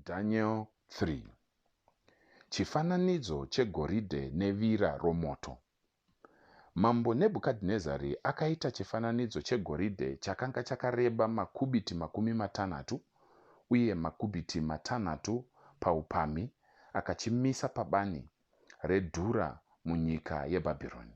Daniel 3 Chifananidzo chegoridhe nevira romoto Mambo Nebhukadhinezari akaita chifananidzo chegoridhe chakanga chakareba makubiti makumi matanhatu uye makubiti matanhatu paupamhi akachimisa pabani redhura munyika yeBhabhironi.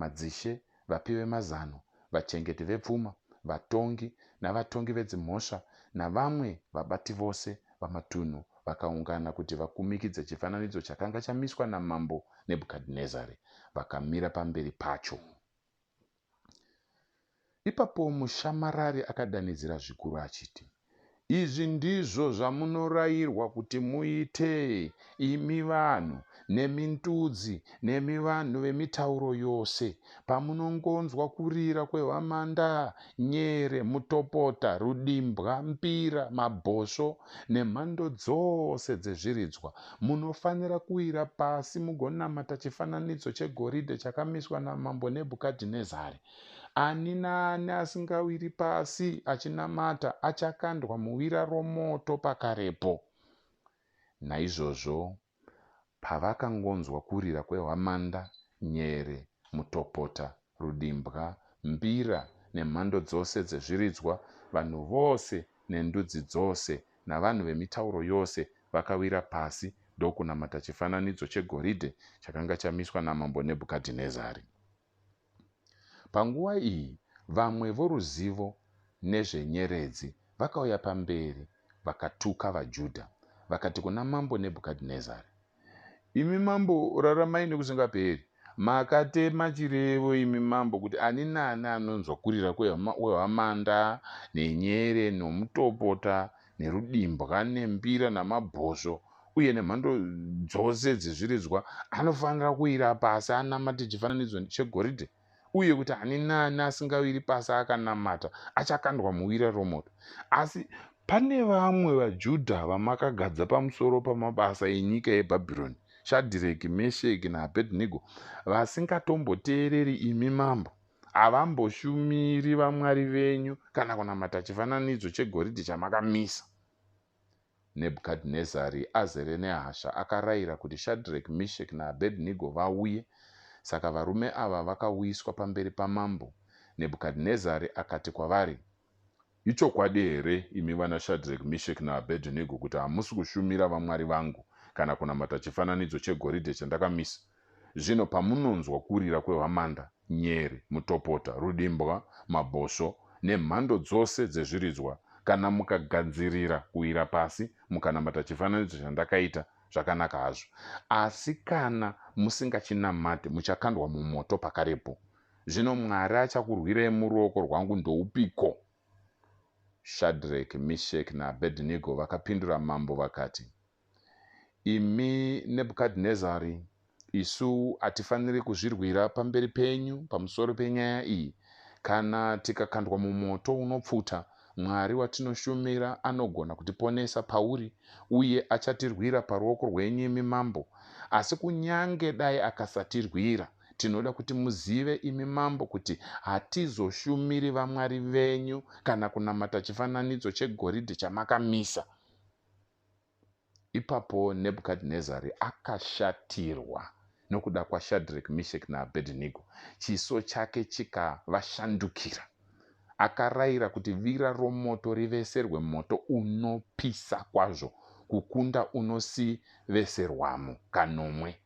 Madzishe, vapi vemazano, vachengeti vepfuma, vatongi navatongi vedzimhosva navamwe vabati vose vamatunhu vakaungana kuti vakumikidze chifananidzo chakanga chamiswa naMambo Nebhukadhinezari. Vakamira pamberi pacho. Ipapo mushamarari akadanidzira zvikuru achiti, Izvi ndizvo zvamunorayirwa kuti muite, imi vanhu, nemi ndudzi, nemi vanhu vemitauro yose, pamunongonzwa kurira kwehwamanda, nyere, mutopota, rudimbwa, mbira, mabhosvo, nemhando dzose dzezviridzwa, munofanira kuwira pasi mugonamata chifananidzo chegoridhe chakamiswa naMambo Nebhukadhinezari. Ani naani asingawiri pasi achinamata achakandwa muwira romoto pakarepo. Naizvozvo pavakangonzwa kurira kwehwamanda, nyere, mutopota, rudimbwa, mbira, nemhando dzose dzezviridzwa, vanhu vose nendudzi dzose navanhu vemitauro yose vakawira pasi ndokunamata chifananidzo chegoridhe chakanga chamiswa naMambo Nebhukadhinezari. Panguva iyi, vamwe voruzivo nezvenyeredzi vakauya pamberi vakatuka vaJudha, vakati kuna Mambo Nebhukadhinezari, Imi mambo, raramai nokusingaperi! Makatema chirevo, imi mambo, kuti ani naani anonzwa kurira kwehwamanda, nenyere, nomutopota, nerudimbwa nembira namabhosvo uye nemhando dzose dzezviridzwa anofanira kuwira pasi anamate chifananidzo chegoridhe uye kuti ani naani asingawiri pasi akanamata achakandwa muwira romoto asi pane vamwe vajudha vamakagadza pamusoro pamabasa enyika yebhabhironi shadhireki mesheki naabhedhinego vasingatomboteereri imi mambo havamboshumiri vamwari venyu kana kunamata chifananidzo chegoridhe chamakamisa nebhukadhinezari azere nehasha akarayira kuti shadrek mishek naabednigo vauye saka varume ava vakauyiswa pamberi pamambo nebhukadhinezari akati kwavari Ichokwadi here, imi vanaShadreki, Misheki naAbhedhinego, kuti hamusi kushumira vamwari vangu kana kunamata chifananidzo chegoridhe chandakamisa? Zvino pamunonzwa kurira kwehwamanda, nyere, mutopota, rudimbwa, mabhosvo, nemhando dzose dzezviridzwa, kana mukagadzirira kuwira pasi mukanamata chifananidzo chandakaita, zvakanaka hazvo. Asi kana musingachinamate, muchakandwa mumoto pakarepo. Zvino Mwari achakurwirei muruoko rwangu ndoupiko? Shadreki, Misheki naAbhedhinego vakapindura mambo vakati, Imi Nebhukadhinezari, isu hatifaniri kuzvirwira pamberi penyu pamusoro penyaya iyi. Kana tikakandwa mumoto unopfuta, Mwari watinoshumira anogona kutiponesa pauri, uye achatirwira paruoko rwenyu imi mambo. Asi kunyange dai akasatirwira, Tinoda kuti muzive, imi mambo, kuti hatizoshumiri vamwari venyu kana kunamata chifananidzo chegoridhe chamakamisa. Ipapo Nebhukadhinezari akashatirwa nokuda kwaShadreki, Misheki naAbhedhinego, chiso chake chikavashandukira. Akarayira kuti vira romoto riveserwe moto unopisa kwazvo kukunda unosiveserwamo kanomwe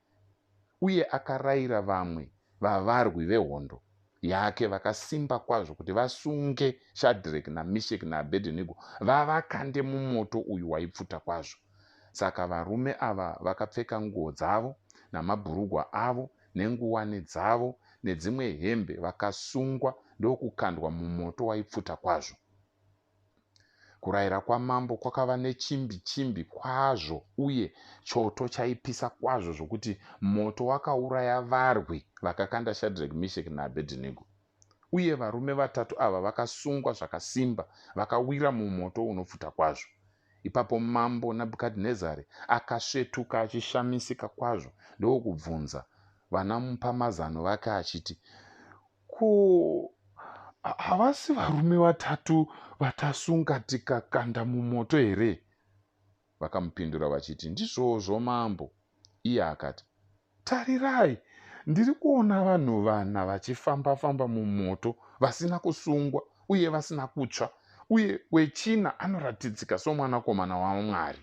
uye akarayira vamwe vavarwi vehondo yake vakasimba kwazvo kuti vasunge Shadreki naMisheki naAbhedhenigo vavakande mumoto uyu waipfuta kwazvo. Saka varume ava vakapfeka nguo dzavo namabhurugwa avo nenguwani dzavo nedzimwe hembe vakasungwa ndokukandwa mumoto waipfuta kwazvo. Kurayira kwamambo kwakava nechimbi chimbi kwazvo uye choto chaipisa kwazvo zvokuti moto wakauraya varwi vakakanda Shadrach, Meshach naAbednego. Uye varume vatatu ava vakasungwa zvakasimba vakawira mumoto unopfuta kwazvo. Ipapo mambo Nabukadnezari akasvetuka achishamisika kwazvo ndokubvunza vana mupamazano vake achiti, Ko havasi varume vatatu vaTasunga tikakanda mumoto here? Vakamupindura vachiti, Ndizvozvo mambo. Iye akati, Tarirai, ndiri kuona vanhu vana vachifamba-famba mumoto vasina kusungwa uye vasina kutsva, uye wechina anoratidzika somwanakomana waMwari.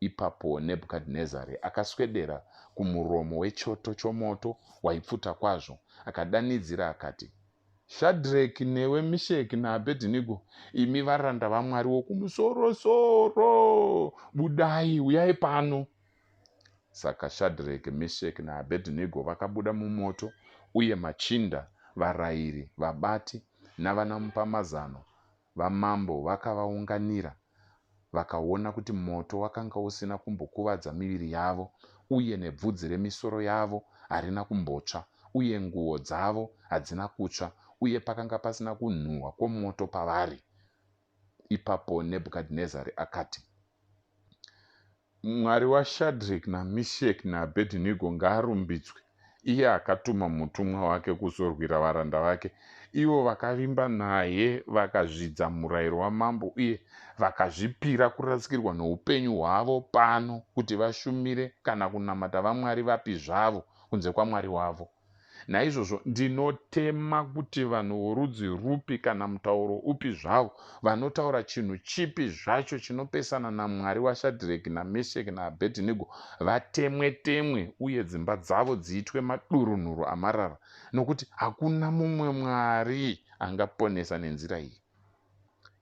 Ipapo Nebhukadhinezari akaswedera kumuromo wechoto chomoto waipfuta kwazvo, akadanidzira akati, Shadreki, newe Misheki naAbhedhinigo, imi varanda vaMwari wokumusorosoro, budai, uyai pano! Saka Shadreki, Misheki naAbhedhinigo vakabuda mumoto, uye machinda, varayiri, vabati, navanamupamazano Vamambo vakavaunganira, vakaona kuti moto wakanga usina kumbokuvadza miviri yavo, uye nebvudzi remisoro yavo harina kumbotsva, uye nguo dzavo hadzina kutsva, uye pakanga pasina kunhuhwa kwomoto pavari. Ipapo Nebhukadhinezari akati, Mwari waShadreki naMisheki naAbhedhinego ngaarumbidzwe, iye akatuma mutumwa wake kuzorwira varanda vake, ivo vakavimba naye vakazvidza murayiro wamambo uye vakazvipira kurasikirwa noupenyu hwavo pano kuti vashumire kana kunamata vamwari vapi zvavo kunze kwaMwari wavo. Naizvozvo ndinotema kuti vanhu vorudzi rupi kana mutauro upi zvawo vanotaura chinhu chipi zvacho chinopesana naMwari waShadhireki naMesheki naAbhedhinego vatemwe-temwe uye dzimba dzavo dziitwe madurunhuru amarara, nokuti hakuna mumwe mwari angaponesa nenzira iyi.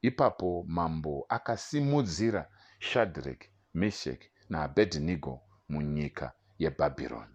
Ipapo mambo akasimudzira Shadhireki, Mesheki naAbhedhinego munyika yeBhabhironi.